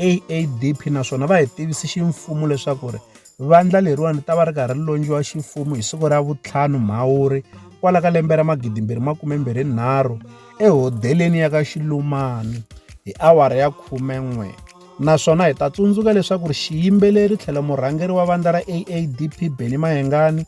AADP naswona va hi tivise ximfumo leswaku ri vandla leriwani ta va ri karhi ri londliwa ximfumo hi siku ra vutlhanu Mhawuri kwala ka lembe ra magidimbirhi makume mbirhi nharhu ehodeleni ya ka Xilumani hi awara ya khume n'we naswona hi ta tsundzuka leswaku ri xiyimbeleri tlhelo murhangeri wa vandla ra AADP Benny Mayengani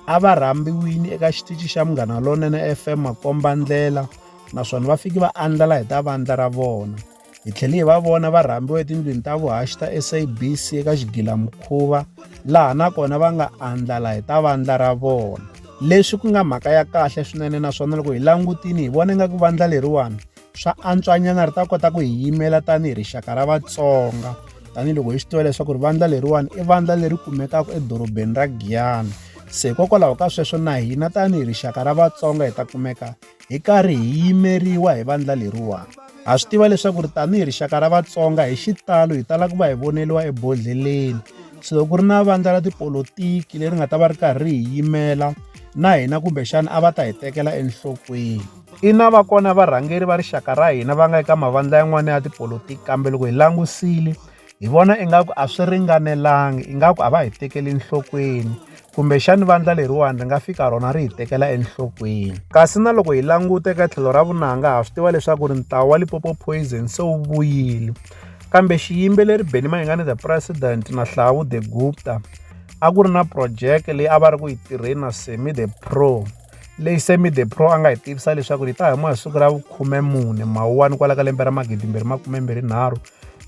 a va rhambiwini eka xitichi xa Munghana Lonene FM makombandlela naswona va fike va andlala hi ta vandla ra vona. Hi tlhele hi va vona va rhambiwa etindlwini ta vuhaxi ta SABC eka xigilamukhuva laha na kona va nga andlala hi ta vandla ra vona. Leswi ku nga mhaka ya kahle swinene naswona loko hi langutile hi vona ingaku vandla leriwani swa antswanyana ri ta kota ku hi yimela tanihi rixaka ra Vatsonga tanihiloko hi swi tiva leswaku ri vandla leriwani i vandla leri kumekaka edorobeni ra Giyani se hikokwalaho ka sweswo na hina tanihi rixaka ra Vatsonga hi ta kumeka hi karhi hi yimeriwa hi vandla leriwani ha swi tiva leswaku ri tanihi rixaka ra vatsonga hi xitalo hi tala ku va hi voneliwa ebodlheleni so loko ku ri na vandla ra tipolotiki leri nga ta va ri karhi hi yimela na hina kumbexana a va ta hi tekela enhlokweni ina va kona varhangeri va rixaka ra hina va nga eka mavandla yan'wana ya tipolotiki kambe loko hi langusile hi vona ingaku a swi ringanelanga ingaku a va hi tekeli enhlokweni kumbexani vandla leriwani ri nga fika rona ri hi tekela enhlokweni kasi na loko hi languta eka tlhelo ra vunanga ha swi tiva leswaku ri ntawu wa lipopo poison se wu vuyile kambe xiyimbeleri beni mayingani the president na hlawu the gupta a ku ri na projeke leyi a va ri ku yi tirheni na semi the pro leyi semi the pro a nga hi tivisa leswaku yi ta huma hi siku ra vukhume mune mawuwani kwala ka lembe ra magidimbirhi makume mbirhi nharhu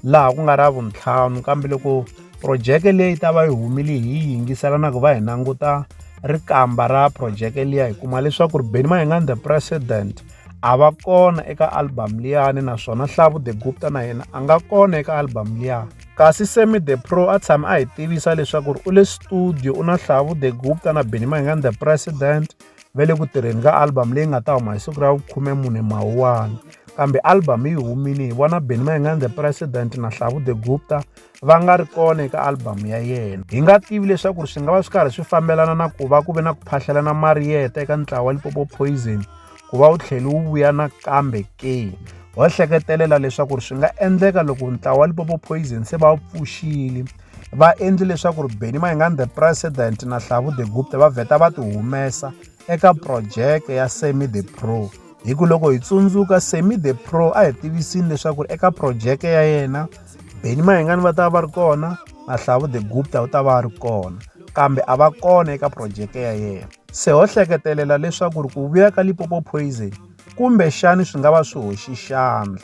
laha ku nga ra vuntlhanu kambe loko phurojeke leyi ta va yi humile hi yi yingisela na ku va hi languta rikamba ra phurojeke liya hi kuma leswaku ri Benny Mayengani the president a va kona eka album liyani naswona Hlavu the Gupta na yena a nga kona eka album liya kasi Sammy the Pro a tshame a hi tivisa leswaku ri u le studio u na Hlavu the Gupta na Benny Mayengani the president va le ku tirheni ka album leyi nga ta huma hi siku ra vukhume mune mawuwani kambe album yi humile hi vona beni ma hi nga the president na hlavu the gupta va nga ri kona eka album ya yena hi nga tivi leswaku swi nga va swi karhi swi fambelana na ku va ku ve na ku phahlelana mariyeta eka ntlawa wa lipopo poison ku va wu tlheli wu vuya nakambe ke ho hleketelela leswaku swi nga endleka loko ntlawa wa lipopo poison se va wu pfuxile va endli leswaku ri Benny Mayengani the president na Hlavu the Gupta va vheta va ti humesa eka project ya Semi the Pro hi ku loko hi tsundzuka Semi the Pro a hi tivisini leswaku ri eka project ya yena Benny Mayengani va ta va ri kona na Hlavu the Gupta u ta va ri kona kambe a va kona eka project ya yena se ho hleketelela leswaku ri ku vuya ka Limpopo Poison kumbe xani swi nga va swi hoxi xandla